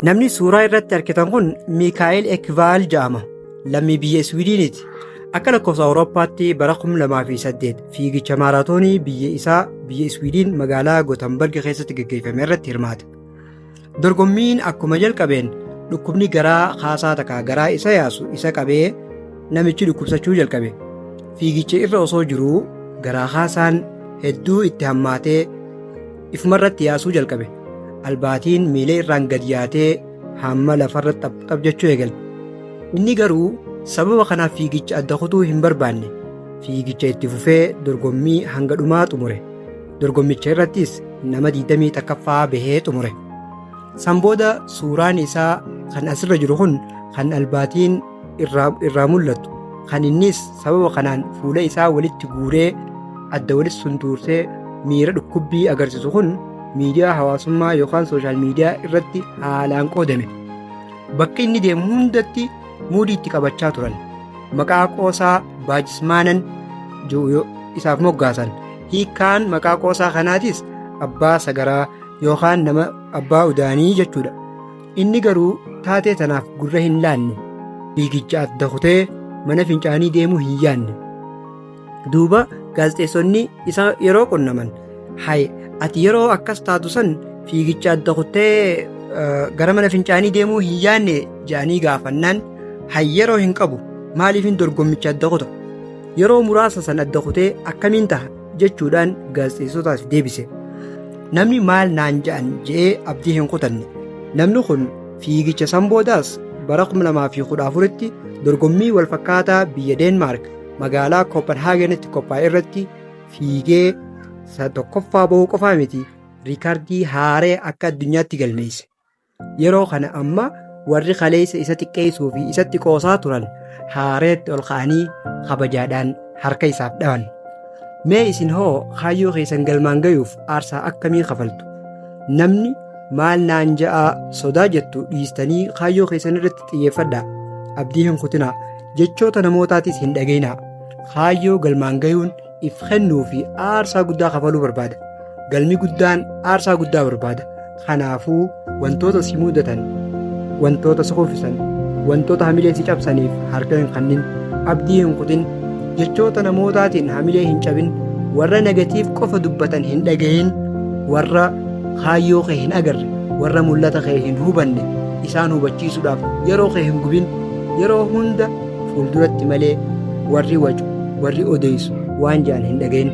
Namni suuraa irratti argitan kun Miikaa'el Ekvaal jedhama. Lammii biyya Iswiidiiniti. Akka lakkoofsa Awurooppaatti bara 2008 fiigicha maaraatoonii biyya isaa biyya Iswiidiin magaalaa Gotambarg keessatti gaggeeffame irratti hirmaate. Dorgommiin akkuma jalqabeen dhukkubni garaa kaasaa takka garaa isa yaasu isa qabee namichi dhukkubsachuu jalqabe. Fiigicha irra osoo jiruu garaa kaasaan hedduu itti hammaatee Ifumarratti yaasuu jalqabe. Albaatiin miilee irraan gad yaatee hamma lafarra xapxap jechuu eegalte. Inni garuu sababa kanaaf fiigicha adda kutuu hin barbaanne. Fiigicha itti fufee dorgommii hanga dhumaa xumure. Dorgommicha irrattis nama 21ffaa bahee xumure. San booda suuraan isaa kan asirra jiru kun kan albaatiin irraa irraa mul'atu kan innis sababa kanaan fuula isaa walitti guuree adda walitti suntuursee miira dhukkubbii agarsiisu kun miidiyaa hawaasummaa yookaan sooshaal miidiyaa irratti haalaan qoodame bakka inni deemu hundatti muudii itti qabachaa turan maqaa qoosaa baajismaanan jiru yoo- isaaf moggaasan hiikaan maqaa qoosaa kanaatis abbaa sagaraa yookaan nama abbaa udaanii jechuudha Inni garuu taatee tanaaf gurra hin laanne fiigicha adda kutee mana fincaanii deemuu hin yaanne. Duuba gaazexeessonni isa yeroo qunnaman hay ati yeroo akkas taatu san fiigicha adda kuttee gara mana fincaanii deemuu hin yaanne jedhanii gaafannaan hay yeroo hin qabu maaliifin dorgommicha adda kuta yeroo muraasa san adda kutee akkamiin taha jechuudhaan gaazexeessotaaf deebise. Namni maal naan ja'an je'ee abdii hin kutanne. Namni kun fiigicha san boodaas bara 2014tti dorgommii walfakkaataa biyya Deenmaark magaalaa Kopenhaagenitti qophaa'e irratti fiigee isa tokkoffaa bahuu qofaa miti riikardii haaree akka addunyaatti galmeesse. Yeroo kana amma warri kaleessa isa xiqqeessuu fi isatti qoosaa turan haareetti ol ka'anii kabajaadhaan harka isaaf dhawan. Mee isin hoo kaayyoo keessan galmaan gayuuf aarsaa akkamii kafaltu? Namni maal naan ja'aa sodaa jettu dhiistanii kaayyoo keessan irratti xiyyeeffadhaa. Abdii hin kutinaa. Jechoota namootaatis hin dhageenyaa. Kaayyoo galmaan gayuun if kennuu fi aarsaa guddaa kafaluu barbaada. Galmi guddaan aarsaa guddaa barbaada. Kanaafuu wantoota si mudatan, wantoota si kuffisan, wantoota hamilee si cabsaniif harka hin kennin, abdii hin kutin, jechoota namootaatiin hamilee hin cabin, warra negatiif qofa dubbatan hin dhagahin, warra kaayyoo kee hin agarre, warra mul'ata kee hin hubanne isaan hubachiisuudhaaf yeroo kee hin gubin, yeroo hunda fuulduratti malee warri wacu, warri odeessu waan ja'an hin dhagayin.